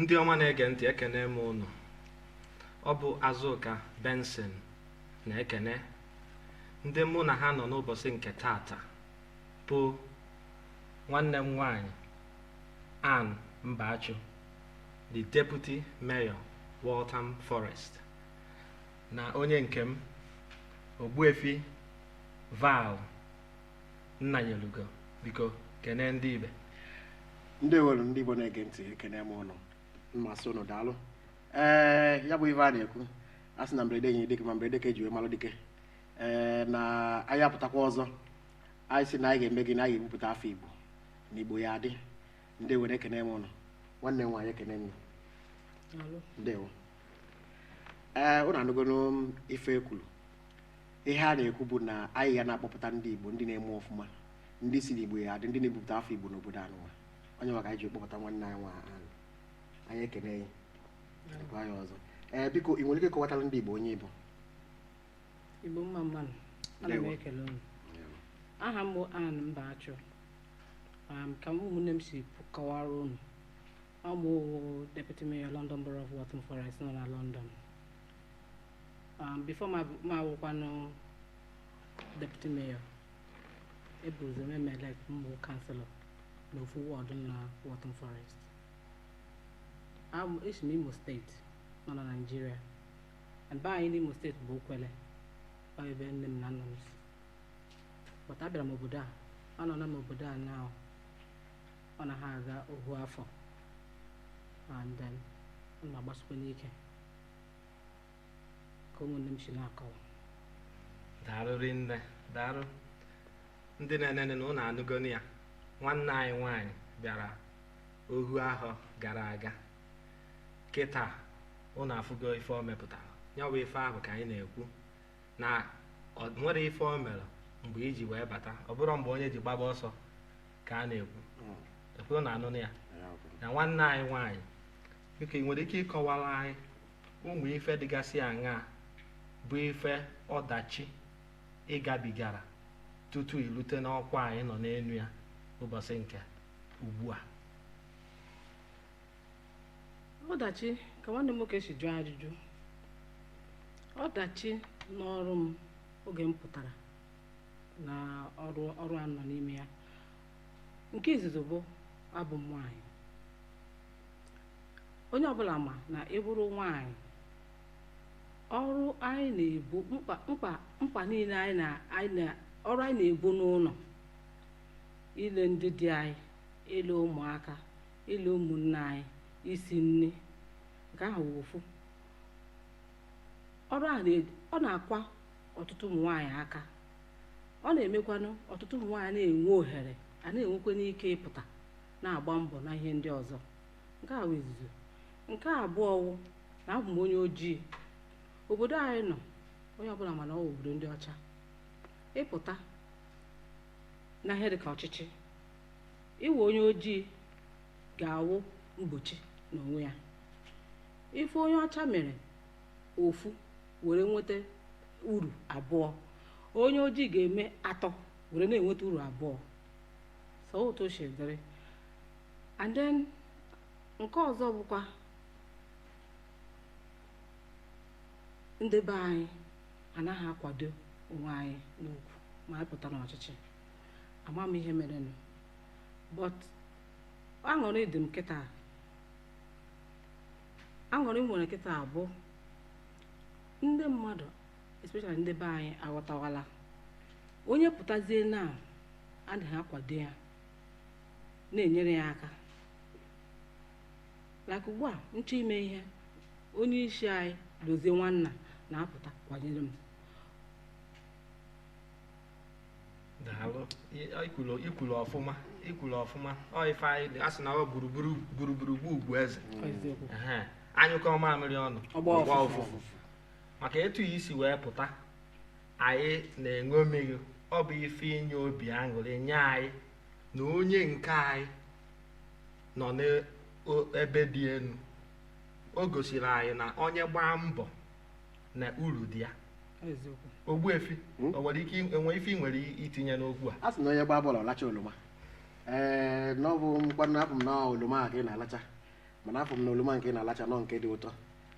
ndị ọma na-ege ntị ekene m ụnụ ọ bụ azụka benson na-ekene ndị mụ na ha nọ n'ụbọsị nke taata bụ nwanne m nwanyị ann mbachu the deputy mayor waltham forest na onye nke m ogbuefi val nnanyelugo biko kenee ndị ibe ndewo nụ ndị igbo na-ege ntị ekene m ụnụ ma sị ụnụ daalụ ee ya bụ ife a na-ekwu a sị na mberede enyi dike ma mberede ka e ji wee malụ dike ee na anyị apụtakwa ọzọ anyị sị na anyị ga-eme gịnị anyị ga-ebupụta afa igbo na igbo ya-adị ndewo nụ ekene m ụnụ nwanne m nwaanyị ekene m ndewo ee ụnụ anụgonụ ife e kwulu ihe a na-ekwu bụ na anyị ga na-akpọpụta ndị Igbo ndị na-eme ọfụma ndị sị n'Igbo ya-adị ndị na-ebupụta afa Igbo n'obodo anụnwa onye maka anyị ji kpọpụta nwanne anyị nwaanyị anyị ekene ya gwa ya ọzọ ee biko ị nwere ike ịkọwatara ndị Igbo onye ị bụ Igbo mma mma nụ ana m ekele unu aha m bụ Ann Mbachu Um, ka ụmụnne m si kọwara unu Ọ m wụ deputy mayor London Borough of Waltham Forest nọ na London. Um, before ma m awụkwanụ deputy mayor, e bu ụzọ mee m elect m wụ councillor na ofu ward nọ na Waltham Forest. Abụ esi m Imo steeti nọ na Nigeria. And be anyị n'Imo steeti bụ Okwelle, ọ ebe nne m na nna m si. But abịara m obodo a, anọọna m obodo a now ọ na ha aga ohu afọ and then ana m agbasikwanụ ike ka ụmụnne m si na-akọwa daalụ rinne daalụ ndị na-enene na ụnụ anụgonụ ya nwanne anyị nwaanyị bịara ohu ahọ gara aga kịta ụnụ afụgo ife o mepụtara ya bụ ife ahụ ka anyị na-ekwu na ọ nwerọ ife o mere mgbe e ji wee bata ọ bụrọ mgbe onye ji gbaba ọsọ ka a na-ekwu hmm. ekwere na anụ ya na nwanne anyị nwaanyị biko ị nwere ike ịkọwara anyị ụmụ ife dịgasị aṅaa bụ ife ọdachi ị gabigara tutu i rute n'ọkwa a ị nọ n'enu ya ụbọsị nke ugbu a ọdachi ka nwanne m nwoke si jụọ ajụjụ ọdachi n'ọrụ m oge m pụtara na ọrụ ọrụ a nọ n'ime ya nke izizi bụ abụ m nwaanyị onye ọbụla ma na ị bụrụ nwaanyị ọrụ anyị na-ebu mkpa mkpa mkpa niile anyị na anyị na ọrụ anyị na-ebu n'ụlọ ile ndị di anyị ile ụmụaka ile ụmụnne anyị isi nni nke ahụ wụ ofu ọrụ a na- ọ na-akwa ọtụtụ ụmụ nwaanyị aka ọ na-emekwanụ ọtụtụ ụmụ nwaanyị na-enwe ohere a na-enwekwanụ ike ịpụta na-agba mbọ na ihe ndị ọzọ nke a wụ izizi nke abụọ wụ na abụ m onye ojii obodo anyị nọ onye ọbụla ma na ọ wụ obodo ndị ọcha ịpụta na ihe dịka ọchịchị ịwụ onye ojii ga-awụ mgbochi n'onwe ya ife onye ọcha mere ofu were nweta uru abụọ onye ojii ga-eme atọ were na-enweta uru abụọ so otu o si dịrị and then nke ọzọ bụkwa ndị be anyị anaghị akwado onwe anyị nnukwu ma anyị pụta n'ọchịchị ama m ihe merenụ but aṅụrị dị m kịta aṅụrị m nwere kịta bụ ndị mmadụ especially ndị be anyị aghọtawala onye pụtazie na adịghị akwado ya na-enyere ya aka like ugbu a m chọọ ime ihe onye isi anyị Dozie Nwanna na-apụta kwanyere m daalụ i kwulu i kwulu ọfụma i kwulu ọfụma ọ ife anyị ji asị na ọ gburugburu gburugburu bụ ugwu eze Ehe. a nyụkọọ mamịrị ọnụ Ọ gbaa ọ gbaa ụfụfụ. ụfụfụ maka etu a ị si wee pụta anyị na-eṅomi gị ọ bụ ife inye obi aṅụrị nye anyị na onye nke anyị nọ n'ebe dị enu o gosiri anyị na onye gbaa mbọ na uru dị ya eziokwu Ogbuefi Hmm? o nwere ike enwe ife ị nwere itinye n'okwu a a sị na onye gbaa bọọlụ ọ lachaa oloma ee na ọ bụ mkpanụ afụ m na oloma a ka ị na-alacha mana afụ m na oloma nke ị na-alacha na ọ nke dị ụtọ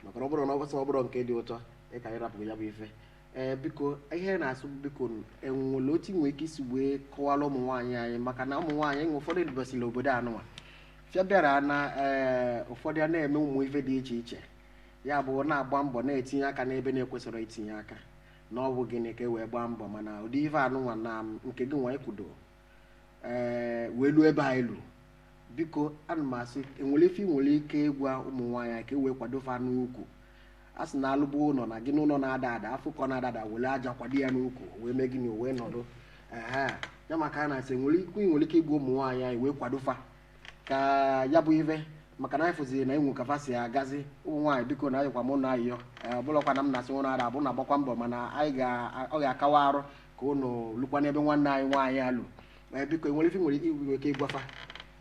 maka na ọ bụrụ na ọ bụsị ọ bụrọ nke dị ụtọ ị ka-arapụ ya bụ ife ee biko ihe na-asị bụ biko e nwere otu ị nwere ike isi wee kọwara ụmụ nwaanyị anyị maka na ụmụ nwaanyị e nwe ụfọdụ e dubasịrị obodo anụnwa fịa bịara na ee ụfọdụ a na-eme ụmụ ife dị iche iche ya bụ na-agba mbọ na-etinye aka n'ebe na-ekwesịrọ itinye aka na ọ bụ gịnị ka e wee gbaa mbọ mana ụdị ife anụnwa na nke gị nwa ịkwudo ee wee luo ebe anyị lu biko ana m asị enwere ife ị nwere ike ịgwa ụmụ nwaanyị ka e wee kwado fa n'ukwu a sị na alụbụ ụlọ na gịnị ụlọ na-ada ada a fụ ka ọ na-ada ada were aja kwado ya n'ukwu wee mee gịnị wee nọdụ ehe ya maka a na-asị enwere okwu ị nwere ike ịgwa ụmụ nwaanyị anyị wee kwado fa ka ya bụ ife maka na anyị fụziri na enwe ka fa si agazi ụmụ nwaanyị biko na ayọkwa m ụnụ ayịyọ ọ bụlọkwa na m na-asị ụnụ ara abụ na agbakwa mbọ mana anyị ga ọ ga-akawa arụ ka ụnụ lukwa n'ebe nwanne anyị nwaanyị a lu ee biko enwere ife nwere ike ịgwafa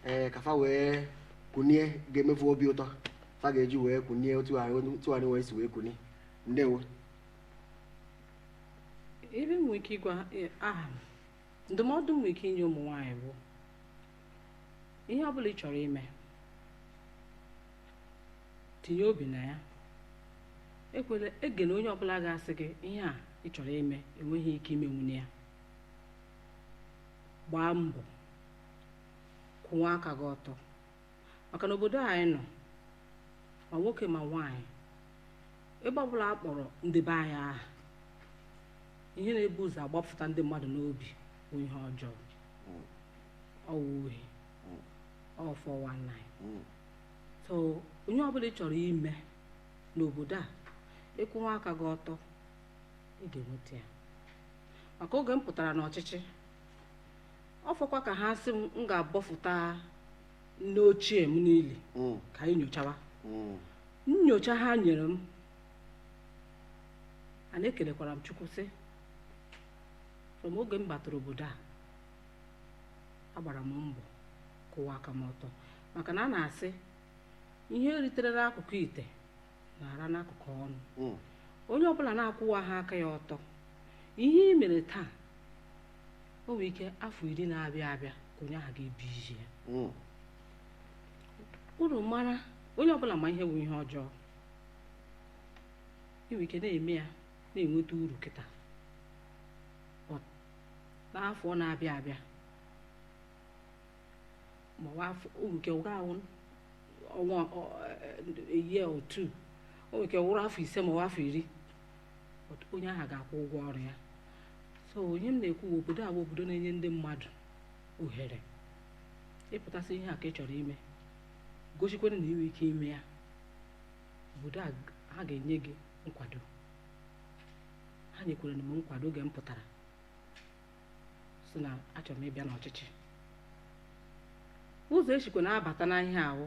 ee ka fa wee kunie ga-eme fa obi ụtọ fa ga-eji wee kunie otu anyị otu anyị wee si wee kunie ndewo ihe m nwere ike ịgwa eh, aha m ndụmọdụ m nwere ike inye ụmụ nwaanyị bụ ihe ọ bụla ị chọrọ ime tinye obi na ya ekwela egena onye ọbụla ga-asị gị ihe a ị chọrọ ime ị nweghị ike imenwuni ya gbaa mbọ kwụwa aka gị ọtọ maka na obodo anyị nọ ma nwoke ma nwaanyị ebe ọbụla a kpọrọ ndị be anyị aha ihe na-ebu ụzọ agbapụta ndị mmadụ n'obi bụ ihe ọjọọ ọ wụ ohi ọ 419 so ihe ọbụla ị chọrọ ime n'obodo a ịkwụwa aka gị ọtọ ị ga-enweta ya maka oge m pụtara n'ọchịchị ọ fọkwa ka ha sị m m ga-abọfụta nne ochie m niile ka anyị nyochawa nyocha ha nyere m and ekelekwara m chukwu sị from oge m batara obodo a agbara m mbọ kwụwa aka m ọtọ maka na a na-asị ihe eritere n'akụkụ ite na-ara n'akụkụ ọnụ Mm. onye ọbụla na-akwụwa ha aka ya ọtọ ihe i mere taa o nwere ike afọ iri na-abịa abịa ka onye ahụ ga-ebi isi ya Mm. unu mara onye ọbụla ma ihe bụ ihe ọjọọ i nwere ike na-eme ya na-enweta uru kịta but n'afọ na-abịa abịa ma ọ wụ o nwere ike wụrụ one year or two o nwere ike wụrụ afọ ise ma ọ wụ afọ iri but onye ahụ ga-akwụ ụgwọ ọrụ ya so ihe m na-ekwu obodo a bụ obodo na-enye ndị mmadụ ohere ị pụta sị ihe a ka ị chọrọ ime gosikwara na i nwe ike ime ya obodo a ha ga-enye gị nkwado ha nyekwara m nkwado oge m pụtara sị na achọrọ m ịbịa n'ọchịchị ụzọ e sikwa na-abata n'ihe a wụ